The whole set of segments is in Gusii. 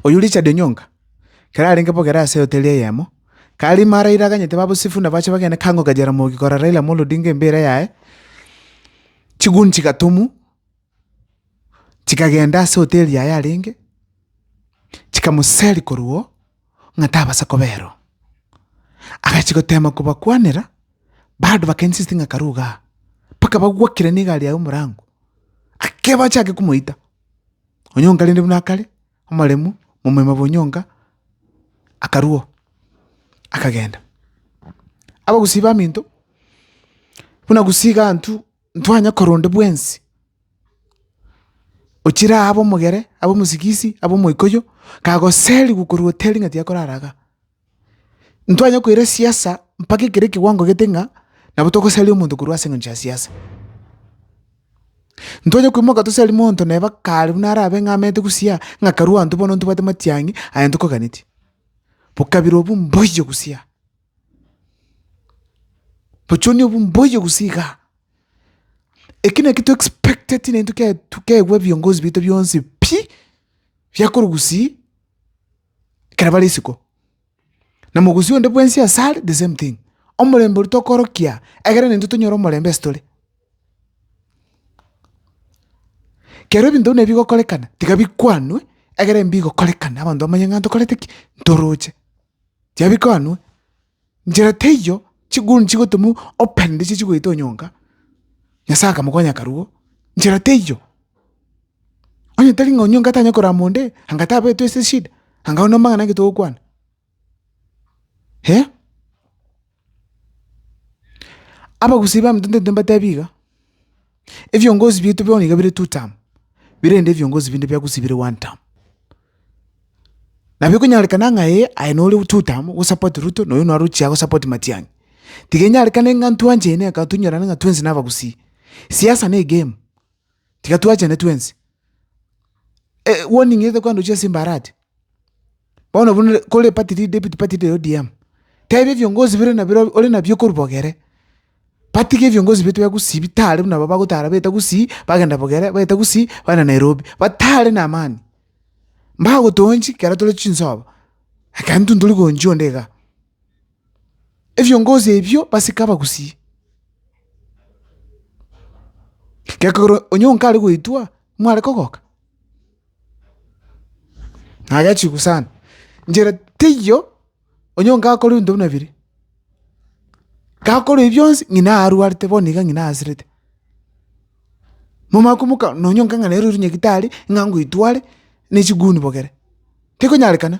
Oyio Richard Onyonga, kera arenge bogere ase hoteli eyemo. Kari marairaganyete babosifu nabache bagende Kango ka Jaramogi korora Raila Amolo Odinga embeera yaye, chiguni chigatomwa, chikagenda ase hoteri yaye arenge, chikamoseria korwa oo ng'a tabasa kobera oo. Agachia gotema kobakwanera, bado baka insist ng'a karu igaa, mpaka bagwakire na egari yaye omorango, ake bachake komoita. Onyong'a rende buna akare. omoremu momoima bonyonga, akarua oo, akagenda. Abagusii baminto, buna gusii igaa ntw ntwanye korwa onde bwensi, ochire aa abe omogere, abe omosigisi, abe omoikoyo, kagoseriwu korwa hoteli ng'a tiakorara igaa. Ntwanye koira siasa mpaka ekero ekewango gete ng'a nabo togosaria omonto korwa ase engencho ya siasa. Ntwanye koimoka tosarie monto neba kare buna arabe ng'a amete gusii aa, ng'a karue intwe bono ntobwate matiang'i aye ntokoganetie. Bokabira obwo mboiyo gusii. Bochoni obwo mboiyo gusii igaa. Eki naki to expect tinaintwe kiaye keigwa viongozi baito bionsi pi, biakorwa gusii ekero bare isiko, na mogusi onde bwensi asare the same thing. Omorembe oria tokorokia egere naintwe tonyore omorembe ase tore. Kero ebinto buna ebi bigokorekana, tiga bikwanwe egere mbigokorekane abanto bamanye ng'a ntokorete ki? ntoroche. Tiga bikwanwe. Nchera teiyo chiguruni chigotumwa open ndichio chigoeta onyonga, Nyasae akamokonya akarua oo, nchera teiyo. Onye tari ng'a onyonga tanya korora moundi, anga tabetwe ase eshida, anga aye nomang'ana naki togokwana? Eh, abagusii b'emetwe ntaito mbatebi iga. Ebiongozi biaito bono iga bire two term, birende ebiongozi binde bia gusii bire one term. Nabo ekonyarekana ng'a ee aye nore two term o support Ruto na oyo naro ochia go support Matiang'i. Tiga enyarekane ng'a intwe anchene aka tonyorane ng'a twensi na abagusii. Siasa ne egame, tiga twachane twensi. warning etokoa ndochia ase embarati. Bono buna ore kore party lead deputy party leader ya ODM, tebia ebiongozi bire nabire ore nabio okorwa bogere, batiga ebiongozi bire tibagusibie tari buna aba bagotara baete gusii, bagenda bogere, baete gusii, bagenda Nairobi, batare na amani. Mbagotoonchi ekero tore chinsobo, ekero intwe ntori goonchia onde igaa. Ebiongozi ebio basike abagusii, gekogera onye onkare goitwa, mware kogoka. Naye chigusana, inchera teiyo onye onga akore ebinto buna ebiria. Gakore ebi bionsi ng'ina arwarete bono iga ng'ina aasirete. Momanye komoka nonye onga ng'a nere ore nyagitari ng'a ngoitware ne chiguni bogere, tekonyarekana.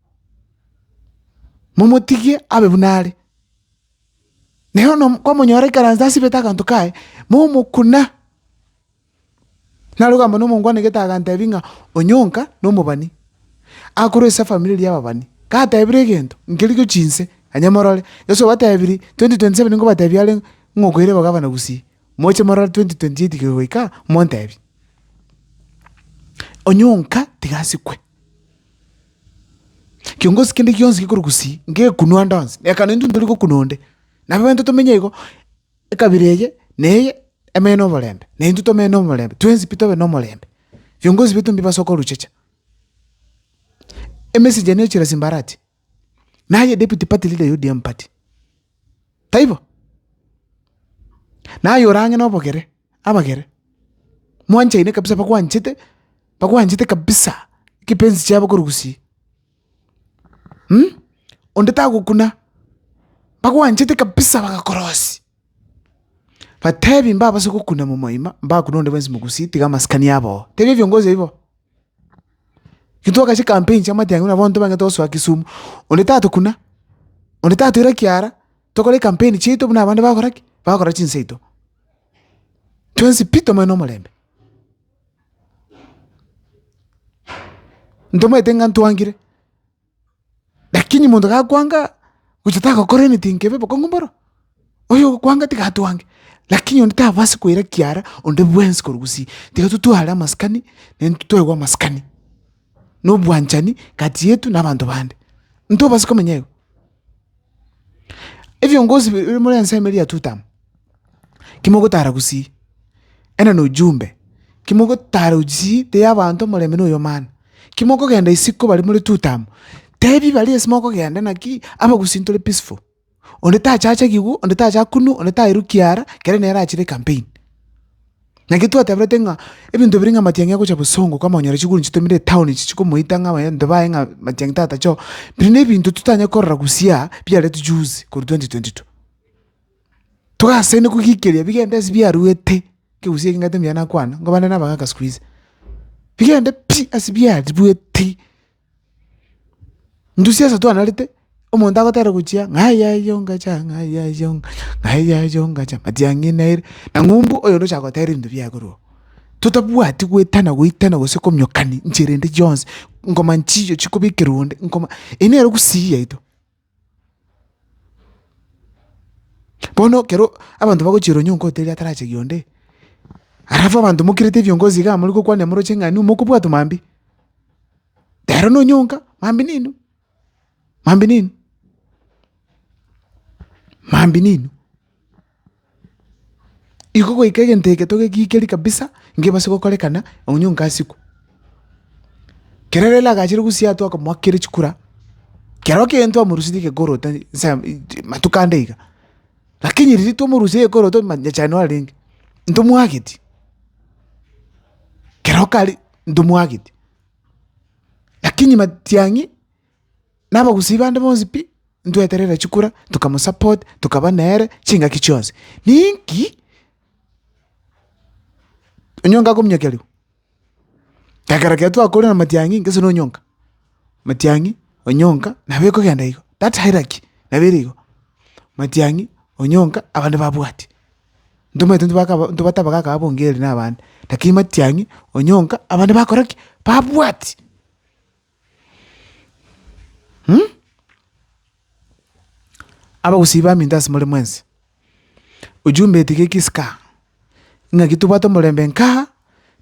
momotigie abe buna are. Na bono kwamonyora aikaranse asibete aganto kaye, momokuna. Naroge amo na omongwanegete agantebi ng'a onye onka na omobani, akorwa ase efamiri eria y'ababani, gatebire egento nkeria gochia inse, onye morore, Yeso obatebirie twenty twenty seven nkobatebi are ng'a okoira obagabana gusii, moche morore twenty twenty eight kegoika, montebie. Onye onka tiga asikwe. Kiongozi kende gionsi gekorwa gusii, ngekunwa ande onsi, ekero intwe tori gokunwa onde, nabo intwe tomenye igo, ekabira eye na eye emenye na oborembe, na intwe tomenye na omorembe, twensi pi tobe na omorembe. Viongozi betu mbibasoe koruchecha, emesegi eye nechira simbarati. Naye deputy party leader ya ODM party, taibo? Naye ore ang'e nobogere, abagere, mwanchaine kabisa bakwanchete, bakwanchete kabisa, ekepensi chiabo korwa gusii onde tagokuna, bakwanchete kabisa bagakorosia, batebi mbabase gokuna momoima, mbakune onde bwensi mogusii tiga amasikani abo oo. Tebia viongozi aibo. Intwagaka chikampeni chia amatiang'ani nabo abanto bang'ete gosoa kisumu, onde tatokuna, onde tatoira kiara, tokore ekampeni chiaito buna abande bagokora ki? Bagokora chinsa chiaito. Twensi pi tomanye na omorembe. Ntomanyete ng'a ntwangire. Lakini monto gakwanga, gocha tagokora emetinto ebe bokong'u mboro, oyo ogokwanga tiga atwange, lakini onde tabasi koira kiara onde bwensi korwa gusii. Tiga totware amasikani, naende totoegwe amasikani, na obwanchani kati yetu na abanto bande. Ntobasa komenya igo. Ebiongozi biri more ensemo eria ya Tutamu, kimogotara gosii, ena na ujumbe, kimogotara gosii teri abanto omorembe na oyomani, kimokogenda isiko bare more Tutamu, tebi baria ase mokogenda naki abagusii ntore peaceful, onde tachache gigu, onde tacha kunu, onde taeru kiara, kere nere achire ecampaign. Naki twateberete ng'a ebinto biri ng'a amatiang'i agocha bosongo kama onyore chiguru chitomire etown echi chikomoita ng'a abanto baye ng'a amatiang'i tata choo, biri na ebinto totanyare korora gosiaa biaretwe juzi korwa twenty twenty two. Togasaine kogikeria bigende ase biaruete, kegusii eke ng'atomia nakwana, ngobande na abagaka sikuizi, bigende pi ase biaribueti. Ndusia esato anarete, omonto agoteera gochia ng'ai yaye yongacha, ng'ai yaye yongacha, ng'ai yaye yongacha, matiang'i naire, na ng'umbu oyo onde ochaka goteera ebinto biaye korwa oo. Totabwati goetana goetana gose komiokani nchera ende chionsi, ngoma nchiiyo chikobekerwa onde, ngoma, eyio nere gusii yaito. Bono ekero abanto bagochia ronya okote erio atarachegi onde, alafu abanto mokirete ebiongozi igaa more gokwania moroche ng'a inwe mokobwatwa mambia, ero nonyonka mambia nainwe, mambia nainwe, mambia nainwe. Iko goika egento eke togegikerie kabisa ngebase gokorekana onye onka asikwe. Kere rero agachire gosiaa twakamoakera chikura, kero kegento twamorusirie gekoroto nsa matuko ande iga, lakini riria twamorusirie gekoroto ma nyachane nore renge, ntomwageti, kero kare ntomwageti, lakini matiang'i. nabagusii bande bonsi pi, ntweterera chikura, tokamosupport, tokaba nere, chingaki chionsi. Ninki onyonga akominyokia ribu? Ekero kere twakore na matiang'i gese na onyonga, matiang'i, onyonga, nabo ekogenda igo, that hierarchy nabo ere igo, matiang'i, onyonga, abande babwati. Ntomanyete intwe baka intwe bataba gaka abongeri na abande, lakini matiang'i, onyonga, abande bakora ki? Babwati. Hm? Abagusii baminto ase more mwensi. Ujumbe etiga eki ska, ing'aki tobwate omorembe nka,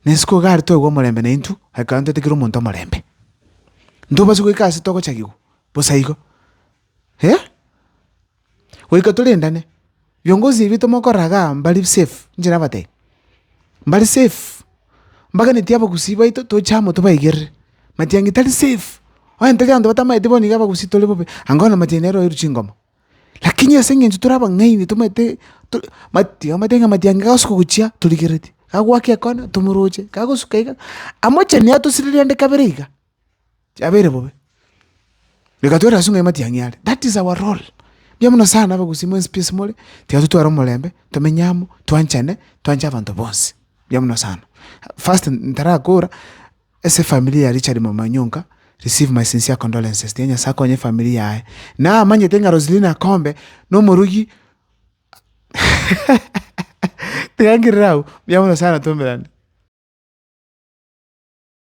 na isiko iga aria toigwa omorembe na intwe, ekero ntoetigire omonto omorembe. Ntobosio goika ase togochagigwa, bosa igo. eh? Goika torendane, viongozi ebi tomokorera igaa mbari safe, inche nabatebi, mbari safe, mbaganetie abagusii baito toche amo tobaigerere, matiang'i tari safe, onye tari abanto batamaeti bono iga abagusii tore bobe, anga bono matiang'i nere oeirwe chingoma, lakini ase eng'encho tore abang'aini tomaete to mati omanyete ng'a matiang'i gagosoka gochia torigeretie, gagoakia ekona tomoroche, gagosuka iga, amocheni atosirire aande kabere iga, chiabeire bobe. Reka tore ase ong'aima tiang'i are. That is our role. Mbuya mono sana abagusii mwensi pi ase more, tiga totware omorembe, tomenye amo, twanchane, twanche abanto bonsi. Mbuya mono sana. First ntarakora, ase efamilia ya Richard Mama Onyonka, receive my sincere condolences. Tiga Nyasaye akonye efamiri yaye. Namanyete ng'a Roselina Kombe, na omorugi tiga ngirire abwo. Mbuya mono sana twomerane.